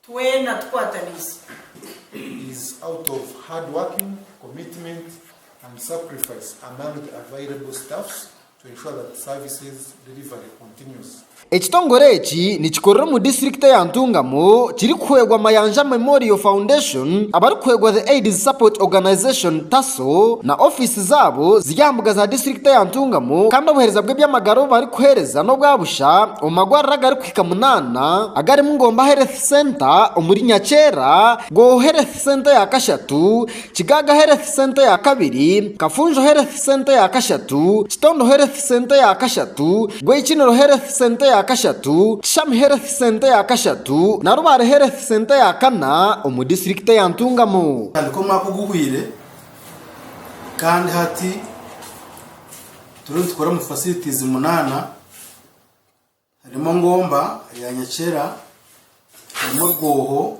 Twena tukwataniise. It is out of hard working, commitment and sacrifice among the available staffs to ensure that services delivery continues. Ekitongore eki nikikorera omu disiturikiti eya Ntungamo kirikuhwegwa Mayanja Memorial Foundation abarikuhwegwa The Aids Support Organization, TASO, na ofiisi zaabo ziri aha mbuga za disiturikiti eya Ntungamo kandi obuheereza bw'eby'amagara obu barikuheereza n'obwa busha omu magwariro agari amahika munaana agarimu Ngomba Health Centre omuri Nyakyera, Gooho Health Centre ya kashatu, Kigaaga Health Centre ya kabiri, Kafunjo Health Centre ya kashatu, Kitondo Health Centre ya kashatu, Gwekiniro Health Centre ya kashatu, Kishami Health Centre ya kashatu na Rubare Health Centre ya kana omu disiturikiti ya Ntungamo. Kuhika omwaka oguhweire kandi hati turiyo nitukora omu facilities munaana. Harimu engomba ya nyakyera, harimu orwoho,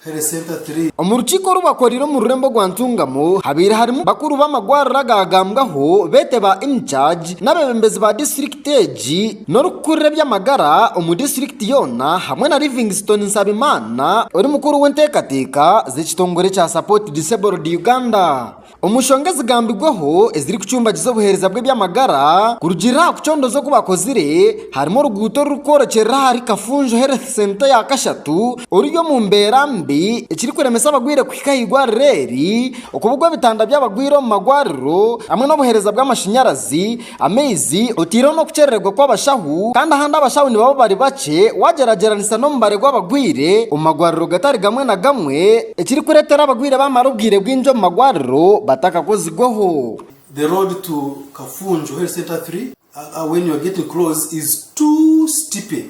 Here Center Tree. Omu rukiiko oru bakoreire omu rurembo rwa Ntungamo habaire harimu bakuru b'amagwariro agaagambwaho beete ba In Charge n'abeebembezi ba disiturikiti egi n'orikukurira eby'amagara omu disiturikiti yoona hamwe na Livingstone Nsabimana ori mukuru w'enteekateeka z'ekitongore kya Support Disabled Uganda. Omu nshonga ezigambirweho ezirikucumbagiza obuheereza bw'eby'amagara kurugiirira aha kucondooza oku bakozire, harimu oruguuto orurikworekyerera ahari Kafunjo Health Centre ya kashatu oruri omu mbeera mbi ekirikuremesa abarwaire kuhika aha irwariro eri, okubugwa ebitanda by'abarwaire omu marwariro hamwe n'obuheereza bw'amashanyarazi. Amaizi, otaireho n'okukyerererwa kw'abashaho kandi ahandi abashaho nibaba bari bakye waagyeragyeranisa n'omubare gw'abarwaire omu marwariro gatari gamwe na gamwe, ekirikureetera abarwaire baamara obwire bwingi omu marwariro batakakozirweho. The road to Kafunjo Health Centre 3 when you are getting close is too steepy.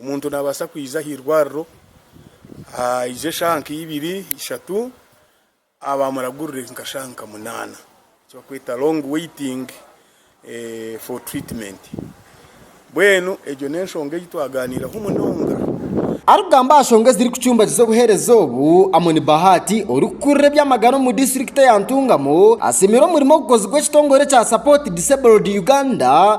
Omuntu naabaasa kwija aha irwariro, aije eshaaha nka ibiri, ishatu, aah baamuragurire nka shaaha nka munaana, eki barikweta long waiting for treatment. Mbwenu egyo n'enshonga ei twagaaniiraho munonga. Arikugamba aha nshonga ezirikucumbagiza obuheereza obu, Amon Bahati, orikukurira eby'amagara omu disiturikiti ya Ntungamo, asiimire omurimo ogukozirwe ekitongore kya Support Disabled Uganda,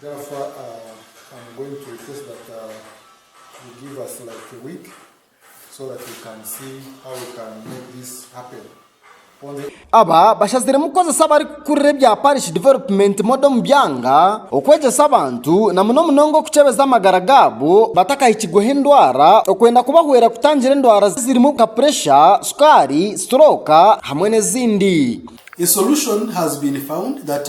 Gafa am going to request that you give us like a week so that we can see how we can make this happen on the Aba bashaziremu kukozesa abarikukurira ebya Parish Development Model omu byanga, okwegyesa abantu na muno munonga okukyebeza amagara gaabo batakahikirweho endwara okwenda kubahwera kutangira endwara zirimu nka puresha, sukaari, siturooka hamwe n'ezindi. A solution has been found that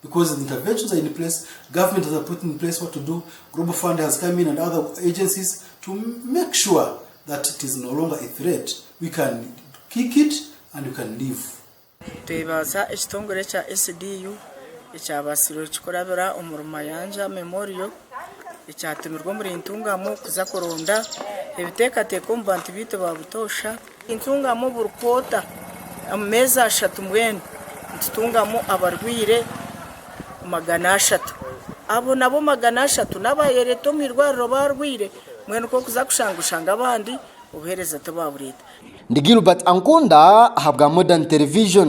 Because the interventions are in place, government has put in place what to do, Global Fund has come in and other agencies to make sure that it is no longer a threat. We can kick it and we can leave. Twebaza ekitongore kya SDU ekyabaasire kurabira omuri Mayanja Memorial ekyatumirwe omuri Ntungamo kuza kuronda ebiteekateeko omu bantu baitu ba butoosha. Nintungamu oburikwoota omu meezi ashatu mbwenu nitutungamu abarwaire magana ashatu. Abo nabo magana ashatu n'abayereeta omu irwariro baarwaire mbwenu k'okuza kushanga oshange abandi obuheereza tibaabureeta. Ndi Gilbert Ankunda ahabwa Modern Television.